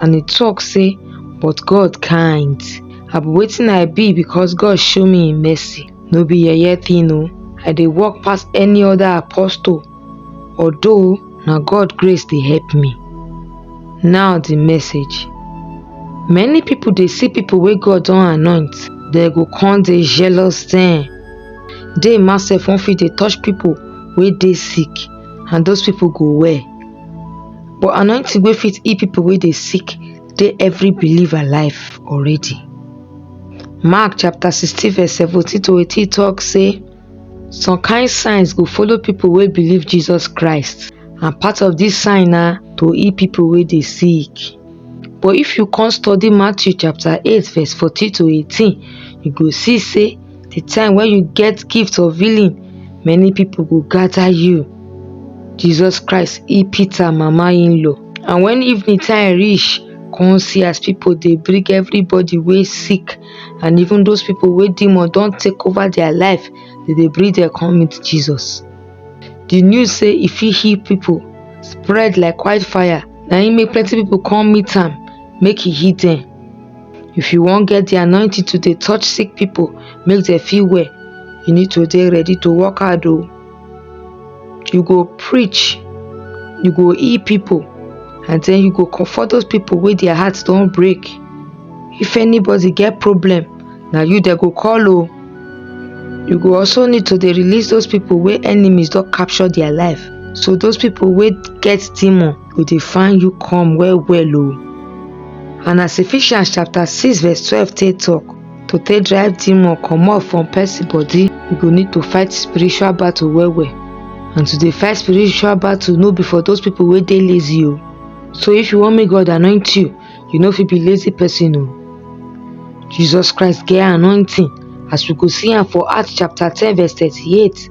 and e tok say but god kind i be wetin i be becos god show me im mercy no be yeye tin o i dey work pass any oda apostle although na god grace dey help me now di message many pipo dey see pipo wey god don anoint dem go come dey jealous dem dey ma sef wan fit dey touch pipo wey dey sick and those pipo go well But anointing wey fit heal people wey dey sick dey every believer life already. Mark chapter 16 verse 17 to 18 talk say some kind signs go follow people wey believe Jesus Christ and part of this sign na to heal people wey dey sick. But if you come study Matthew chapter 8 verse 14 to 18, you go see say the time when you get gift of healing many people go gather you jesus christ he peter mama in law and when evening time reach come see as people dey bring everybody wey sick and even those people wey demon don take over their life they dey bring them come meet jesus the news say e fit heal people spread like wildfire na im make plenty people come meet am make e heal them If you wan get the anointing to dey touch sick people, make dem feel well, you need to dey ready to work hard o. You go preach, you go heal people and then you go comfort those people wey their heart don break. If anybody get problem, na you dem go call o. You go also need to dey release those people wey enemies don capture their life. So those people wey get demon go dey find you come well well o and as Ephesians chapter 6 verse 12 take talk to take drive demon comot from person body you go need to fight spiritual battle well well and to dey fight spiritual battle no be for those people wey dey lazy o so if you want make God anoint you you no fit be lazy person o Jesus Christ get anointing as we go see am for Acts chapter 10 verse 38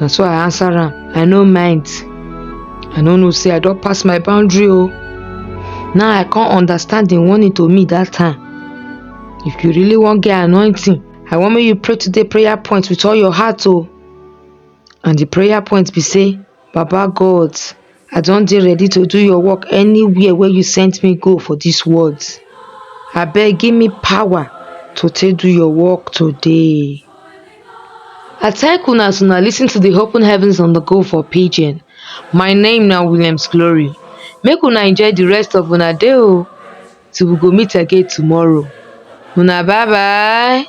na so i answer am i no mind i no know say i don pass my boundary o now i come understand the warning to me that time if you really wan get anointing i wan make you pray today prayer point with all your heart o and the prayer point be say Baba God I don dey ready to do your work anywhere wey you send me go for this world abeg give me power to take do your work today I thank una as una listen to the open heavens on the go for pidgin my name na Williams Glory make una enjoy the rest of una day o till we go meet again tomorrow una bye bye.